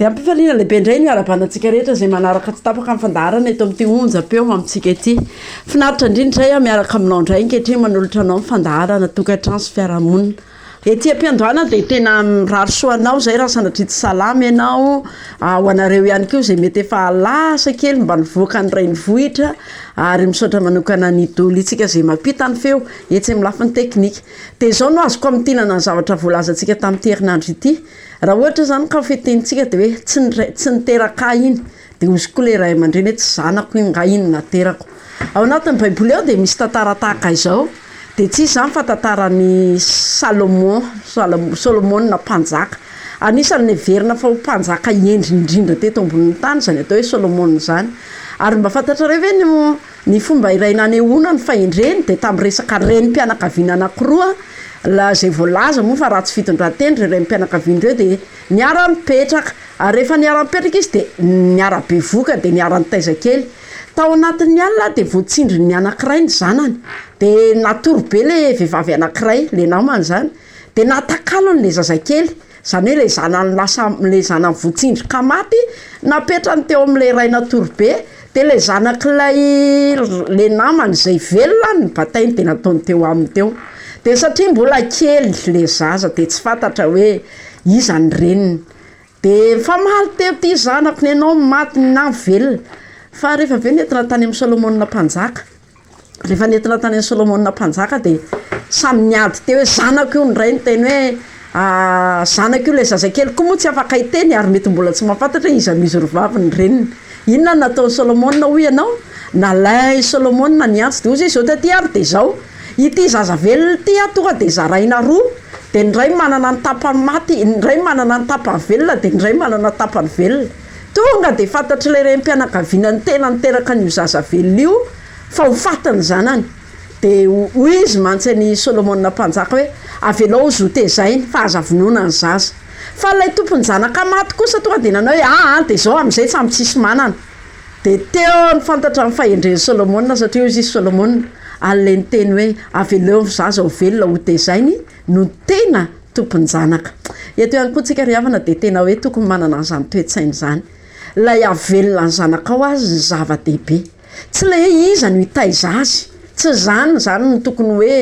Dia ampifaliana lehibe indray ny hiarabana antsika rehetra izay manaraka tsy tapaka ny fandaharana eto amin'ity onjam-peo amintsika ity. Finaritra indrindra izay aho miaraka aminao indray ankehitriny manolotra anao ny fandaharana tokantrano sy fiarahamonina. Ety am-piandohana dia tena mirary soa anao izay raha sanatria tsy salama ianao, ho anareo ihany koa izay mety efa lasa kely mba nivoaka ny renivohitra ary misaotra manokana ny Doly-ntsika izay mampita ny feo etsy amin'ny lafiny teknika. Dia izao no azoko hamintinana ny zavatra voalazantsika tamin'ity herinandro ity. Raha ohatra zany ka fitenintsika de hoe tsy ny ray tsy niteraka ahy iny de hozy koa le ray aman-dreny hoe tsy zanako iny nga iny no aterako. Ao anatin'ny baiboly ao de misy tantara tahaka izao de tsy iza zany fa tantaran'i Salomon Salamo- Solomona mpanjaka. Anisan'ny neverina fa ho mpanjaka hendry indrindra teto ambonin'ny tany zany atao hoe Solomona zany ary mba fantatrareo ve ny Ny fomba iray nanehoana ny fahendreny dia tamin'ny resaka renim-pianakaviana anankiroa, la izay voalaza moa fa ratsy fitondran-tena ireo renim-pianakaviana ireo dia niara-nipetraka, ary rehefa niara-nipetraka izy dia niara-bevoka, dia niara-nitaiza kely. Tao anatin'ny alina dia voatsindrin'ny anankiray ny zanany, dia natory be ilay vehivavy anankiray, ilay namany izany, dia natakalony ilay zazakely. Zany hoe le zanany lasa le zanany votsindrika maty napetrany teo amle ray natory be de le zanak'ilay le namany zay velona any ny batainy de nataony teo aminy teo de satria mbola kely le zaza de tsy fantatra hoe iza ny reniny de nifamaly teo ty zanako nenao maty na velona fa rehefa aveo nentina tany am solomona mpanjaka Rehefa nentina tany amin'i Solomona mpanjaka dia samy niady teo hoe zanako io, ny ray niteny hoe zanako io, ilay zazakely koa moa tsy afaka hiteny ary mety mbola tsy mahafantatra hoe iza no izy roavavy ny reniny. Inona no nataon'i Solomona hoy ianao? Nalain'i Solomona ny antsy dia hoy izy hoe izao taty ary dia izao, ity zaza velona ity an tonga dia zaraina roa, dia ny iray manana ny tapany maty, ny iray manana ny tapany velona, dia ny iray manana ny tapany velona. Tonga dia fantatr'ilay renim-pianakaviana ny tena niteraka an'io zaza velona io fa ho faty ny zanany. Dia hoy izy mantsy an'i Solomona mpanjaka hoe, Avelao ho zotezaina, fa aza vonoina ny zaza. Fa ilay tompon-janaka maty kosa tonga dia nanao hoe, Aa, dia izao amin'izay samy tsisy manana. Dia teo no fantatrany fahendren'i Solomona, satria hoy izy, Solomona, ary ilay niteny hoe, Avelao ny zaza ho velona hotezainy, no tena tompon-janaka. Eto ihany koa tsika ry havana dia tena hoe tokony manana an'izany toe-tsaina izany. Ilay hahavelona ny zanakao azy no zava-dehibe. Tsy ilay hoe iza no hitaiza azy. Tsy izany izany no tokony hoe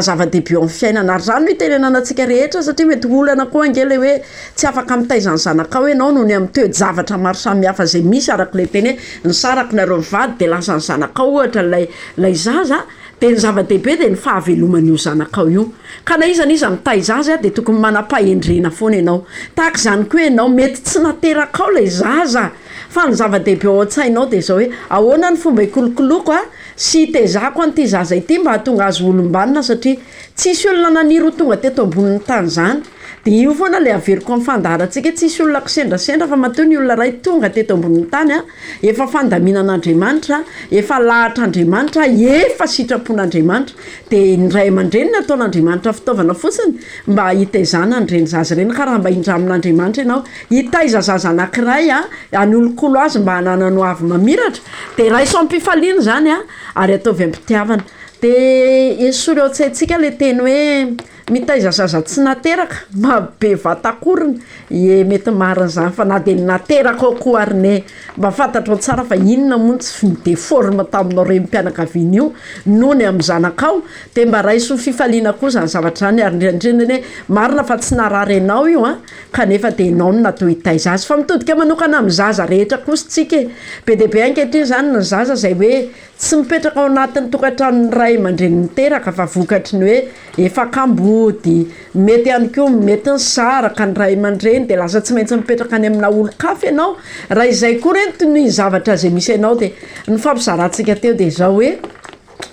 zava-dehibe eo amin'ny fiainana. Ary izany no itenenana antsika rehetra satria mety ho olana koa ange ilay hoe tsy afaka mitaiza ny zanakao ianao noho ny amin'ny toe-javatra maro samihafa izay misy araka ilay teny hoe nisaraka nareo mivady dia lasa ny zanakao ohatra ilay ilay zaza Dia ny zava-dehibe dia ny fahaveloman'io zanakao io. Ka na iza na iza mitaiza azy dia tokony manam-pahendrena foana ianao. Tahaka izany koa ianao, mety tsy naterakao ilay zaza, fa ny zava-dehibe ao an-tsainao dia izao hoe, ahoana ny fomba hikolokoloako sy hitezako an'ity zaza ity mba hahatonga azy ho olom-banona, satria tsisy olona naniry ho tonga teto ambonin'ny tany izany. Dia io foana ilay averiko amin'ny fandaharantsika, tsisy olona kisendrasendra fa matoa ny olona iray tonga teto ambonin'ny tany a, efa fandaminan'Andriamanitra, efa lahatr'Andriamanitra, efa sitrapon'Andriamanitra, dia ny ray aman-dreny nataon'Andriamanitra fitaovana fotsiny mba hitaizana an'ireny zaza ireny, ka raha mba hindramin'Andriamanitra ianao hitaiza zaza anankiray a, hanolokolo azy mba hananany ho avy mamiratra, dia raiso amim-pifaliana izany a, ary ataovy am-pitiavana, dia esory ao an-tsaintsika ilay teny hoe. Mitaiza zaza tsy nateraka, marobe vatankorona e mety marina zany fa na de ny nateraka ao koa ary ne mba fantatrao tsara fa inona moa no tsy ny deforme taminao renim-pianakaviana io nony amin'ny zanakao de mba raiso ho fifaliana koa zany zavatra zany ary indrindra indrindra anie marina fa tsy narary anao io a, kanefa de enao no natao hitaiza azy fa mitodika manokana amin'ny zaza rehetra kosa tsika e, be de be ankehitriny zany ny zaza zay hoe Tsy mipetraka ao anatin'ny tokantranon'ny ray aman-dreny niteraka fa vokatry ny hoe efa kambody. Mety ihany koa mety nisaraka ny ray aman-dreny dia lasa tsy maintsy mipetraka any amina olon-kafa ianao, raha izay koa re no ny zavatra izay misy anao dia nifampizarantsika teo dia izao hoe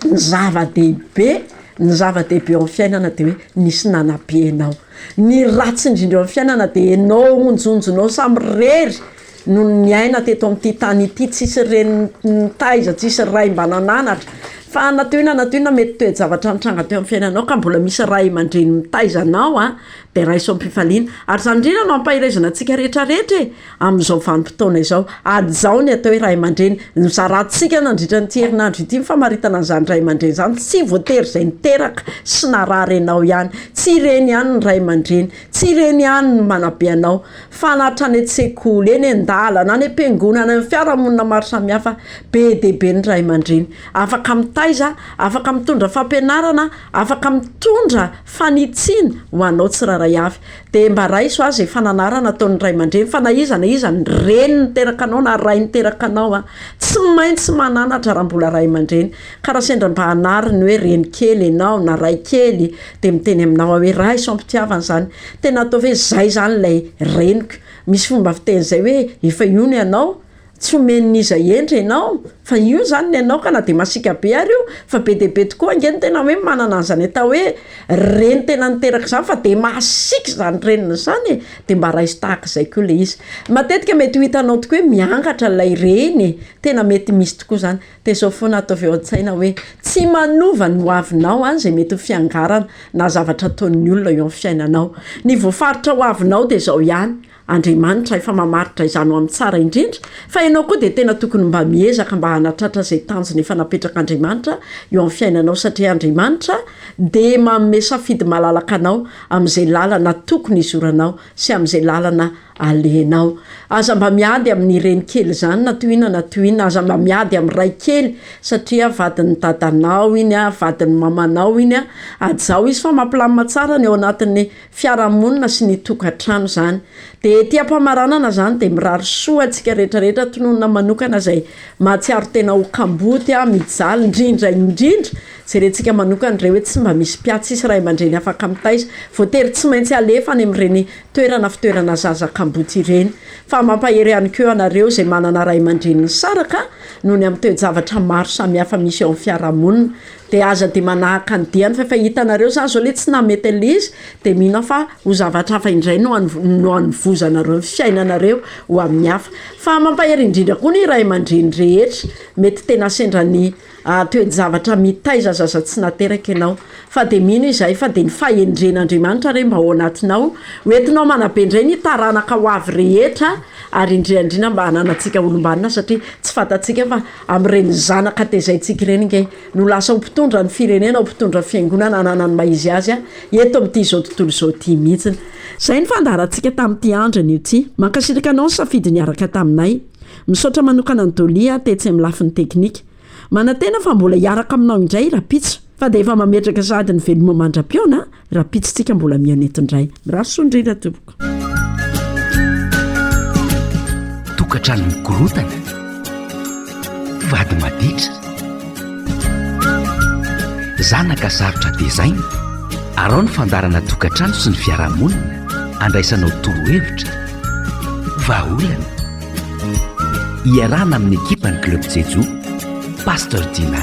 ny zava-dehibe ny zava-dehibe eo amin'ny fiainana dia hoe nisy nanabe anao. Ny ratsy indrindra eo amin'ny fiainana dia ianao onjonjonao samirery Nony niaina teto amin'ity tany ity, tsisy reny nitaiza, tsisy ray mba nananatra. Fa na toy inona na toy inona mety toe-javatra nitranga teo amin'ny fiainanao ka mbola misy ray aman-dreny mitaiza anao an, dia raiso am-pifaliana. Ary izany indrindra no ampaherezana antsika rehetra rehetra e! amin'izao vanim-potoana izao. Hajaho ny atao hoe ray aman-dreny. Nozarantsika nandritra an'ity herinandro ity ny famaritana an'izany ray aman-dreny izany. Tsy voatery izay niteraka sy narary anao ihany. Tsy ireny ihany ny ray aman-dreny. Tsy ireny ihany no manabe anao. Fa na hatrany an-tsekoly, eny an-dalana, any am-piangonana, amin'ny fiarahamonina maro samihafa, be dia be ny ray aman-dreny afaka mitaiza, afaka mitondra fampianarana, afaka mitondra fanitsiana ho anao tsirairay avy. Dia mba raiso aza izay fananarana ataon'ny ray aman-dreny, fa na iza na iza, ny reny niteraka anao na ray niteraka anao an, tsy maintsy mananatra raha mbola ray aman-dreny, ka raha sendra mba hanary ny hoe reny kely ianao na ray kely Dia miteny aminao aho hoe, Raha izao am-pitiavana izany, tena ataovy hoe izay izany ilay reniko. Misy fomba fiteny izay hoe, efa io ny anao, tsy omen'iza hendry ianao, fa io izany ny anao ka na dia masiaka be ary io, fa be dia be tokoa ange ny tena hoe manana an'izany atao hoe reny tena niteraka izany fa dia masiaka izany reniny izany e! Dia mba raiso tahaka izay koa ilay izy. Matetika mety ho hitanao tokoa hoe miangatra ilay reny e! Tena mety misy tokoa izany. Dia izao foana ataovy eo an-tsaina hoe, tsy manova ny hoavinao izay mety ho fiangarana na zavatra ataon'ny olona eo amin'ny fiainanao. Ny voafaritra hoavinao dia izao ihany, Andriamanitra efa mamaritra izany ho amin'ny tsara indrindra, fa ianao koa dia tena tokony mba miezaka mba hanatratra izay tanjona efa napetrak'Andriamanitra eo amin'ny fiainanao satria Andriamanitra dia manome safidy malalaka anao amin'izay lalana tokony hizoranao sy amin'izay lalana Alenao. Aza mba miady amin'ny renikely zany na to inona na to inona, aza mba miady amin'ny ray kely satria vadin'ny dadanao iny a, vadin'ny mamanao iny a, ajaho izy fa mampilamina tsara ny ao anatin'ny fiarahamonina sy ny tokantrano zany. De ety am-pamaranana zany de mirary soa antsika rehetra rehetra, tononina manokana zay mahatsiaro tena ho kamboty a, mijaly, ndrindra indrindra jerentsika manokana ndray hoe tsy mba misy mpiatsy sy ray aman-dreny afaka mitaiza, voatery tsy maintsy alefa any amin'ireny toerana fitoerana zaza kamboty ireny, fa mampahery ihany koa anareo izay manana ray aman-dreny nisaraka noho ny amin'ny toe-javatra maro samihafa misy eo amin'ny fiarahamonina, dia aza dia manahaka ny diany fa efa hitanareo zany zao le tsy nahamety an'le izy dia mino fa ho zavatra hafa indray no no hanovozanareo ny fiainanareo ho amin'ny hafa, fa mampahery indrindra koa ny ray aman-dreny rehetra mety tena sendra ny Ary toe-javatra mitaiza aza aza tsy nateraka ianao. Fa dia mino izahay fa dia ny fahendren'Andriamanitra re mba ao anatinao, ho entinao manabe indray ny taranaka ho avy rehetra, ary indrindra indrindra mba hananantsika olom-banona, satria tsy fantatsika fa amin'ireny zanaka tezaintsika ireny ange no lasa ho mpitondra ny firenena, ho mpitondra fiangonana ananan'ny maha-izy azy ahy, eto amin'ity izao tontolo izao ity mihitsy. Izay ny fandaharantsika tamin'ity andriny ity. Mankasitraka anao ny safidy niaraka taminay. Misaotra manokana an'i Dolly aho tetsy amin'ny lafiny teknika. Manantena fa mbola hiaraka aminao indray rahampitso. Fa dia efa mametraka sahady ny veloma mandra-pihaona rahampitso tsika mbola mihaona eto indray. Mirary soa indrindra tompoko. Tokantrano mikorontana, mpivady maditra, zanaka sarotra tezaina, arao ny fandaharana Tokantrano sy ny fiarahamonina, andraisanao torohevitra, vahaolana, Iarahana amin'ny ekipan'ny Club Jejo, Pasteur Dina.